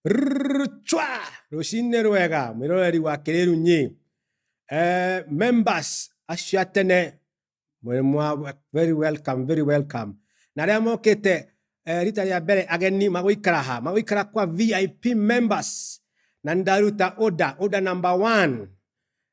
Rrrr, chwa rũcinĩ rwega mwĩroreri wa kĩrĩru nyi eh, members acio a tene mwĩ mwa- very welcome very welcome na arĩa mokĩte eh, rita rĩa mbere ageni magũikara ha magũikara kwa vip members na ndaruta order order number one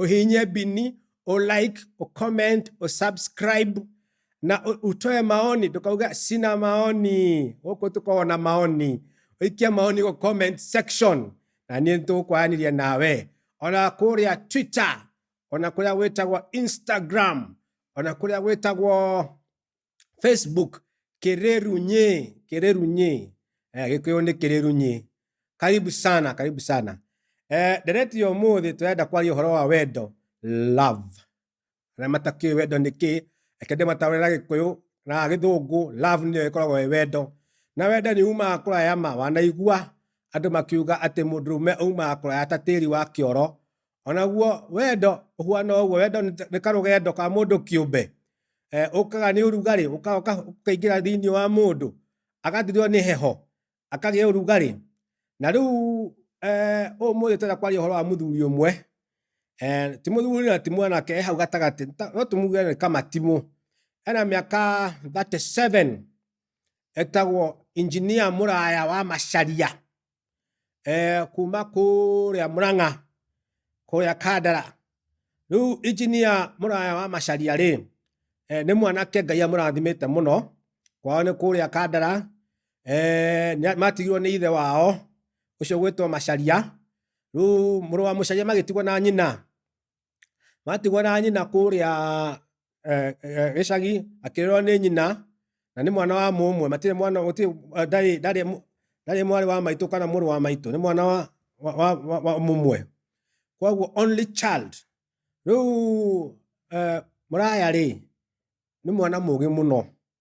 ũhihinye bini ũ like ũ comment ũ subscribe na ũ- ũtoe maoni ndũkauga sina maoni gũkũ tũkoragwo na maoni ũikia maoni gũ comment section na niĩ nĩtũgũkwaranĩria nawe ona kũrĩa twitter ona kũrĩa gwĩtagwo instagram ona kũrĩa gwĩtagwo Facebook Kererunye, Kererunye. Eh, Gikuyu ni Kererunye. Karibu sana, karibu sana. Eh, ndereti ya umuthi turenda kwaria uhoro wa wendo, love. Na matakio wendo ni ki, ekende matawira Gikuyu na Githungu, love ni ikoragwo wendo. Na wendo ni umaga kuraya ma wanaigua andu makiuga ati mundurume umaga kuraya ta tiri wa kioro Onaguo wendo ũhuana ũguo, wendo nĩ karũgendo ka mũndũ kĩũmbe. Eh, ũkaga nĩ ũrugarĩ, ũkaga ũkaingĩra thĩinĩ wa mũndũ, agathirwo nĩ heho, akagĩa ũrugarĩ. Na rĩu eh, ũmũthĩ tũrenda kwaria ũhoro wa mũthuri ũmwe, eh, ti mũthuri na ti mwanake, e hau gatagatĩ, no tũmuge nĩ kamatimũ. Ena mĩaka 37 etagwo injinia mũraya wa Macharia. eh, kuma kũrĩa mũrang'a kũrĩa kandara rĩu injinia mũraya wa macaria rĩ eh, nĩ mwanake ngai amũrathimĩte mũno kwao nĩ kũrĩa kandara eh, nĩ- matigirwo nĩ ithe wao ũcio gwĩtwo macaria rĩu mũrũ wa mũcaria magĩtigwo na nyina Matigwo na nyina kũrĩa eh, eh, gĩcagi akĩrerwo nĩ nyina na nĩ mwana wa mũmwe matirĩ mwana gũtirĩ eh, ndarĩ ndarĩ mũ- ndarĩ mwarĩ wa maitũ kana mũrũ wa maitũ nĩ mwana wa, wa, wa, wa, wa mũmwe koguo only child rĩu eh, mũraya rĩ nĩ mwana mũgĩ mũno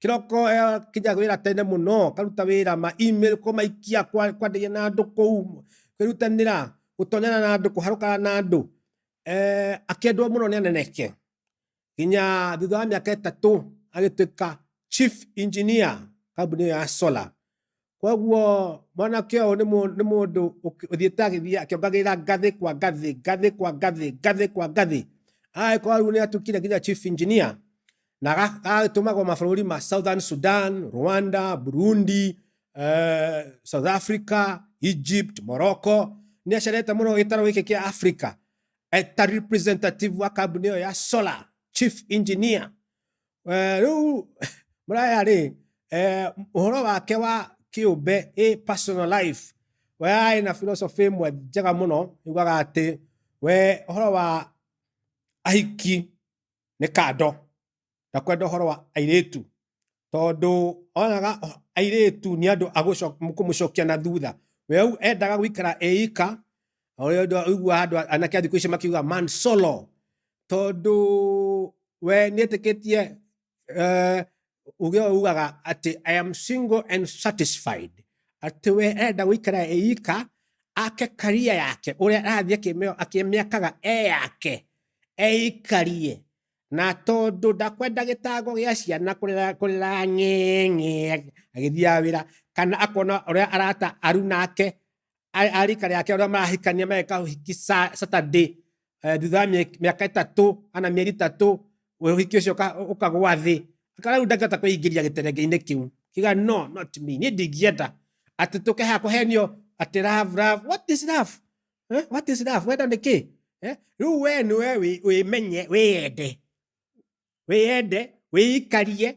Kĩroko eh, kĩnjaga wĩra tene mũno karuta wĩra ma email ko maikia kwa- kwanĩria na andũ kũu kwĩrutanĩra gũtonyana na andũ kũharũkana na andũ eh, akĩendwo mũno nĩ aneneke nginya thutha wa mĩaka ĩtatũ agĩtuĩka chief engineer kambuni ĩyo ya solar Koguo mwanake ũyũ nĩ mũ- nĩ mũndũ ũk- ũthiĩte agĩthiĩ akĩongagĩrĩra ngathĩ kwa ngathĩ ngathĩ kwa ngathĩ ngathĩ kwa ngathĩ agagĩkorwo rĩu nĩ atukire nginya chief engineer na aga- agagĩtũmagwo mabũrũri ma southern sudan rwanda burundi eh, south africa egypt morocco nĩ acerete mũno gĩtaro gĩkĩ kĩa africa eta representative wa kambuni ĩyo ya solar chief engineer eh, rĩu mũraya rĩ eh, ũhoro wake wa kĩũmbe ĩ personal life we arĩ na philosophy ĩmwe njega mũno yugaga atĩ we ũhoro wa ahiki nĩ kando na kwenda ũhoro wa airĩtu tondũ onaga o- airĩtu nĩ andũ agũco- kũmũcokia na thutha we rĩu endaga gũikara eika ũrĩa ũndũ ũigua andũ a- anake a thikũ ici makiuga man solo tondũ we nĩ ĩtĩkĩtie eh, uge ũyũ ugaga atĩ i am single and satisfied atĩ we enda gũikara eika ake karia yake ũrĩa arathiĩ akĩmĩo- akĩmĩakaga e yake eikarie na tondũ ndakwenda gĩtango gĩa ciana kũrĩra kũrĩra ng'eng'e agĩthiaga wĩra kana akona ũrĩa arata aru nake a- a rika rĩake ũrĩa marahikania mageka ũhiki sa- saturday eh, thutha wa mĩe- mĩaka ĩtatũ ana mĩeri ĩtatũ ũhiki ũcio ũka- ũkagwa thĩ kana rĩu ndangĩhota kwĩingĩria gĩterenge-inĩ kĩu kiga no not me niĩ ndingĩenda atĩ tũke haha kũhenio atĩ love love what is love eh? what is love wenda nĩ kĩ eh? rĩu we nĩ we wĩ- wĩmenye wĩyende wĩyende wĩikarie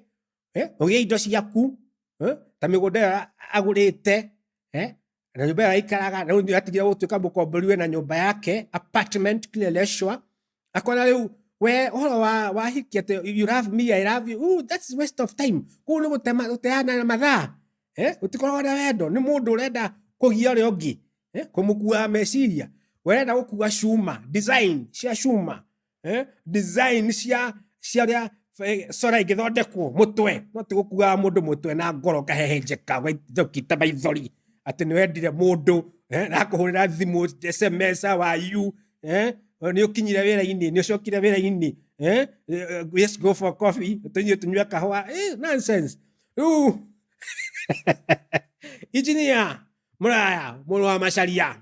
eh, ũgĩe indo ciaku eh, ta mĩgũnda ĩyo agũrĩte eh, na nyũmba ĩyo aikaraga na rĩu nĩatigire gũtuĩka mũkombori we na nyũmba yake apartment kule Leshwa akona rĩu we ũhoro wa wahiki atĩ you love me I love you Ooh, that's waste of time kũu nĩ gũtema- gũteana na mathaa eh, gũtikoragwo na wendo nĩ mũndũ ũrenda kũgia ũrĩa ũngĩ eh, kũmũkuaga meciria we ũrenda gũkua cuma design cia cuma eh, design cia cia ria eh, sora igithondekwo mutwe no tigukuaga mundu mutwe na ngoro kahehenjeka gwaithokita maithori ati ni wendire mundu eh, na kuhurira thimu sms wa you eh, ni ukinyire wira-ini ni ucokire wira-ini eh, eh, yes go for coffee tunyue tunyue kahwa eh, nonsense riu ijinia muraya muru wa macaria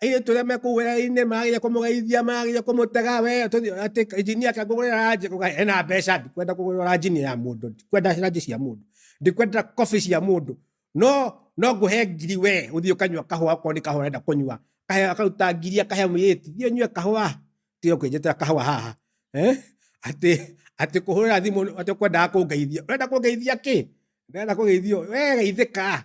airitu aria me kuu wira-ini magagirire kumugeithia magagirire kumutega we ati injinia ake ngugurira ranji ena mbeca ndikwenda kugurira ranji ni ya mundu ndikwenda ranji cia mundu ndikwenda coffee cia mundu no no nguhe ngiri we uthii ukanywa kahua ko ni kahua renda kunywa kahe akaruta ngiri akahe mwiriti thii unywe kahua tiyo kwinjitira kahua haha eh ati ati kuhurira thimu ati kwendaga kungeithia urenda kungeithia ki ndenda kugeithio we geithika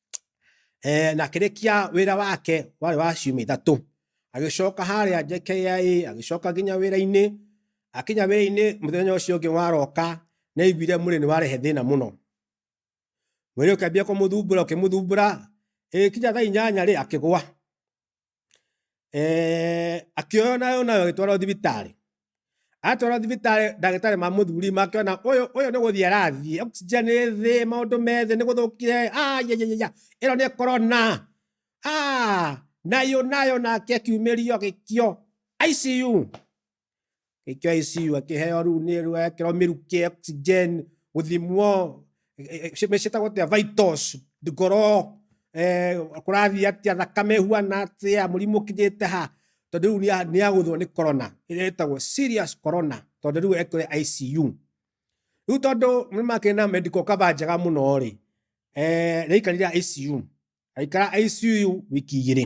eh, na akĩrĩkia wĩra wake warĩ wa ciumia ithatũ agĩcoka harĩa JKIA agĩcoka nginya wĩra-inĩ akinya wĩra-inĩ mũthenya ũcio ũngĩ waroka nĩ aiguire mwĩrĩ nĩ warehe thĩna mũno mwĩrĩ ũkĩambia kũmũthumbũra ũkĩmũthumbũra ĩgĩkinya thaa inyanya rĩ akĩgwa akĩoywo nayo nayo agĩtwarwo thibitarĩ atwarwo thibitarĩ ndagĩtarĩ ma mũthuri makĩona ũyũ ũyũ nĩ gũthiĩ arathiĩ oxygen ĩ thĩ maũndũ me thĩ nĩ gũthũkire ayayaya ĩno nĩ corona Ah, nayo nayo nake akiumĩrio agĩkio ICU KICU akĩheo rĩu nĩ ekĩrwo mĩrukĩ ya oxygen gũthimwo eh, eh, ci- ciĩtagwo atĩa vitals ngoro eh, kũrathiĩ atĩa thakame ĩhuana atĩa mũrimũ ũkinyĩte ha tondũ rĩu nĩa- nĩagũthwo nĩ corona ĩrĩa ĩtagwo serious corona tondũ rĩu ekĩre ICU rĩu tondũ nĩ makĩrĩ na medical cover njega mũno rĩ eh, nĩaikarire ICU aikara ICU wiki igĩrĩ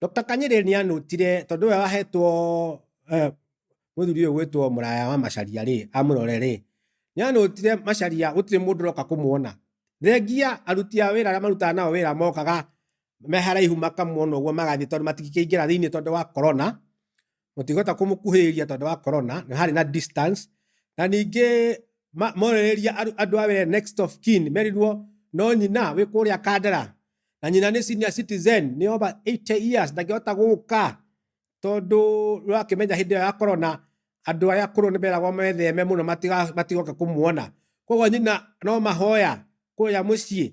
Doctor Kanyĩrĩrĩ nĩ anũtire tondũ we wahetwo eh, mũthuri ũyũ gwĩtwo mũraya wa Macharia rĩ amũrore rĩ nĩ anũtire Macharia gũtirĩ mũndũ ũroka kũmuona thengia aruti a wĩra arĩa marutaga nao wĩra mokaga me haraihu makamuona ũguo magathiĩ tondũ matingĩkĩingĩra thĩinĩ tondũ wa korona mũtikũhota kũmũkuhĩrĩria tondũ wa corona nĩ harĩ na distance na ningĩ ma- morĩrĩria aru- andũ a wĩra next of kin merirwo no nyina wĩ kũrĩa kandara na nyina nĩ senior citizen nĩ over 80 years ndangĩhota gũka tondũ ũrakĩmenya hĩndĩ ĩyo ya corona andũ arĩa akũrũ nĩ meragwo metheme mũno matiga- matigoke kũmuona koguo nyina no mahoya kũrĩa mũciĩ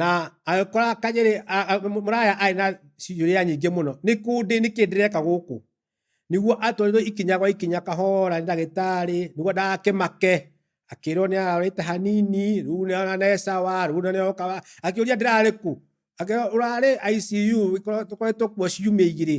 na agĩkora kanyĩrĩ a- a- mũraya arĩ na ciũria nyingĩ mũno nĩ kũndĩ nĩkĩ ndĩreka gũkũ nĩguo atwarirwo ikinya gwa ikinya kahora nĩ ndagĩtarĩ nĩguo ndakĩmake akĩrwo nĩ ararĩte hanini rĩu nĩ aranecawa rĩu nĩ oka akĩũria ndĩrarĩ kũ akĩrwo ũrarĩ ICU gĩkorwo- tũkoretwo kuo ciumia igĩrĩ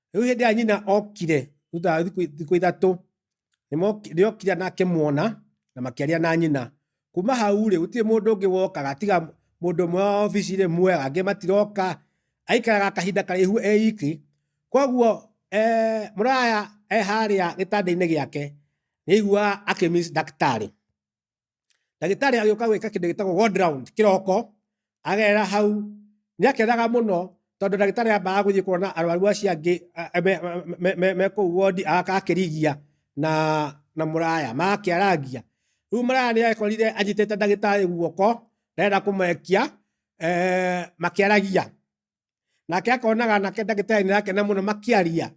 rĩu hĩndĩ ĩrĩa nyina okire thutha wa thikũ thikũ ithatũ nĩmoki- nĩokire na akĩmuona na makĩaria na nyina kuma hau rĩ gũtirĩ mũndũ ũngĩ wokaga tiga mũndũ ũmwe wa obici rĩ muoya angĩ matiroka aikaraga kahinda karaihu eiki koguo eh, mũraya e harĩa gĩtanda-inĩ gĩake nĩaiguaga akĩmis ndagĩtarĩ ndagĩtarĩ agĩũka gwĩka kĩndũ gĩtagwo ward round kĩroko agerera hau nĩ akenaga mũno tondũ ndagĩtarĩ ambaga gũthiĩ kuona arwaru acio angĩ a- a- me- me- me- me kũu wondi agaka akĩrigia na na mũraya magakĩarangia rĩu mũraya nĩ ekorire anyitĩte ndagĩtarĩ guoko ndarenda kũmwekia eh, makĩaragia nake akona ganake ndagĩtarĩ nĩ arakena mũno makĩaria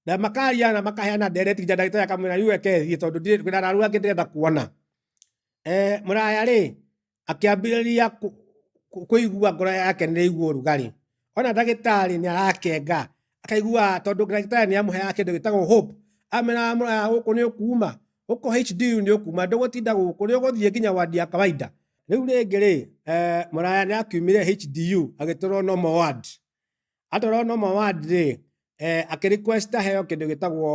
na makaria na makaheana ndereti nginya ndagĩtarĩ akamwĩra yu reke thiĩ tondũ ndirĩ kwĩna araru angĩ ndĩrenda kuona eh, mũraya rĩ akĩambĩrĩria kũ- kũ- kũigua ngoro yake nĩ ĩigua ũrugarĩ ona ndagĩtarĩ nĩ arakenga akaigua tondũ ndagĩtarĩ nĩ amũheaga kĩndũ gĩtagwo hope amena mũraya gũkũ nĩ ũkuuma huko HDU nĩ ũkuma ndũgũtinda gũkũ nĩ ũgũthiĩ nginya wadi ya kawaida rĩu rĩngĩ rĩ eh, mũraya nĩ akiumire HDU agĩtũrwo normal ward atũrwo normal ward rĩ eh, akĩrequest aheo kĩndũ gĩtagwo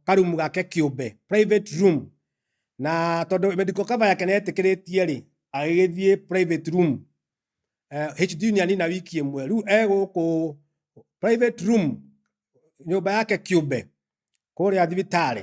karumu gake kĩũmbe private room na tondũ medical cover yake nĩ etĩkĩrĩtie rĩ agĩgĩthiĩ private room eh, HDU nĩ anina wiki ĩmwe rĩu e gũkũ private room nyũmba yake kĩũmbe kũrĩa thibitarĩ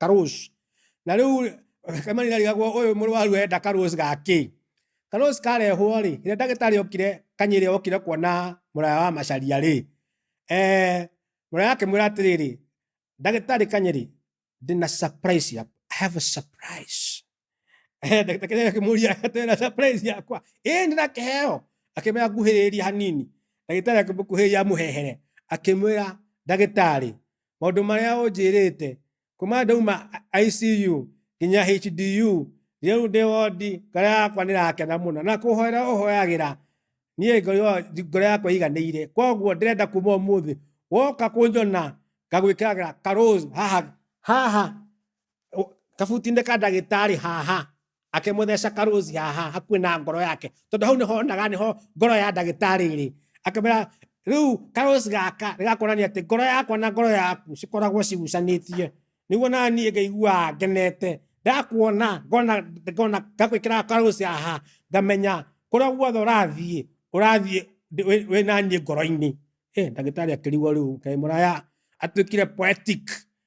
karũci. Na rĩu Kemani ndarigagwo ũyũ mũrwaru enda karũci ga kĩ? Karũci karehwo rĩ, rĩrĩa ndagĩtarĩ okire kanyĩrĩ okire kuona mũraya wa macaria rĩ, eh, mũraya akĩmwĩra atĩrĩrĩ, ndagĩtarĩ kanyĩrĩ, ndĩna surprise ya I have a surprise. ndagĩtarĩ akĩmũria atĩ na surprise yakwa ĩĩ nĩ na kĩheo akĩmwĩra nguhĩrĩria hanini ndagĩtarĩ akĩmũkuhĩrĩria amũhehere akĩmwĩra ndagĩtarĩ maũndũ marĩa ũnjĩrĩte kuma ndauma ICU nginya HDU rĩu ndĩ wondi ngoro yakwa nĩ rakena mũno na kũhoera ũhoyagĩra niĩ ngoro yakwa iganĩire koguo ndĩrenda kuma ũmũthĩ woka kũnjona ngagwĩkĩraga karũz haha haha O- kabuti-inĩ ka ndagĩtarĩ haha akĩmũtheca karozi haha hakuhĩ na ngoro yake tondũ hau nĩho onaga nĩho ngoro ya ndagĩtarĩ ĩrĩ akĩmwĩra rĩu karozi gaka nĩgakuonania atĩ ngoro yakwa na ngoro yaku cikoragwo cigucanĩtie nĩguo na niĩ ngaiguaga ngenete ndakuona ngona ngona ngagwĩkĩra karozi haha ngamenya kũrĩa guothe ũrathiĩ ũrathiĩ ndĩ- wĩ- wĩ na niĩ ngoro-inĩ Eh, ndagĩtarĩ akĩrigwo rĩu ngai mũraya atuĩkire poetic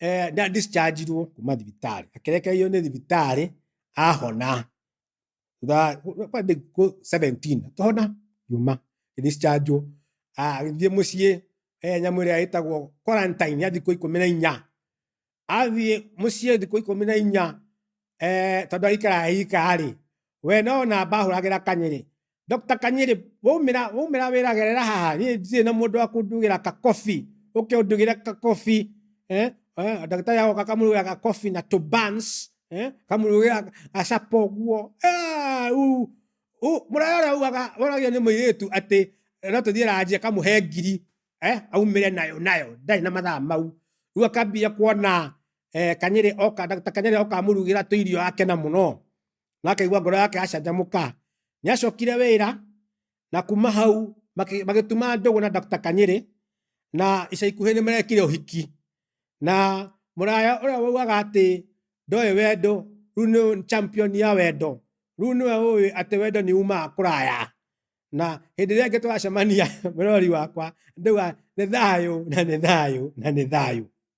eh, na discharge irwo kuma thibitarĩ akĩrekererio nĩ thibitarĩ ahona thutha kwa thikũ 17 akĩhona yuma discharge agĩthiĩ mũciĩ eh, nyamũ ĩrĩa ĩtagwo quarantine ya thikũ ikũmi na inya athiĩ mũciĩ thikũ ikũmi na inya eh, tondũ aikara aika-rĩ we no namba ahũragĩra kanyĩrĩ Dr. Kanyiri, waumira waumira wiragerera haha ni ndirĩ na mundu wa kundugira ka coffee uke undugira ka coffee eh eh ndagĩtarĩ agoka akamurugira ka coffee na to buns eh akamurugira acapa ũguo Ah, u u mũraya ũrĩa ugaga ũragio nĩ mũirĩtu atĩ no tũthiĩ ranji akamũhe ngiri eh aumĩre nayo nayo ndarĩ na mathaa mau rĩu akambia kuona eh, kanyĩrĩ oka Dr. kanyĩrĩ oka amurugira tũirio akena mũno na akaigua ngoro yake acanjamũka nĩ acokire wĩra na kuma hau makĩ- magĩtuma ndũgũ na Dr. Kanyĩrĩ na ica ikuhĩ nĩ marekire ũhiki na mũraya ũrĩa waugaga atĩ ndoĩ wendo rĩu nĩ champion ya wendo rĩu nĩwe ũĩ atĩ wendo nĩ umaga kũraya na hĩndĩ ĩrĩa ĩngĩ tũgacemania mũrori wakwa ndauga nĩ thayũ na nĩ thayũ na nĩ thayũ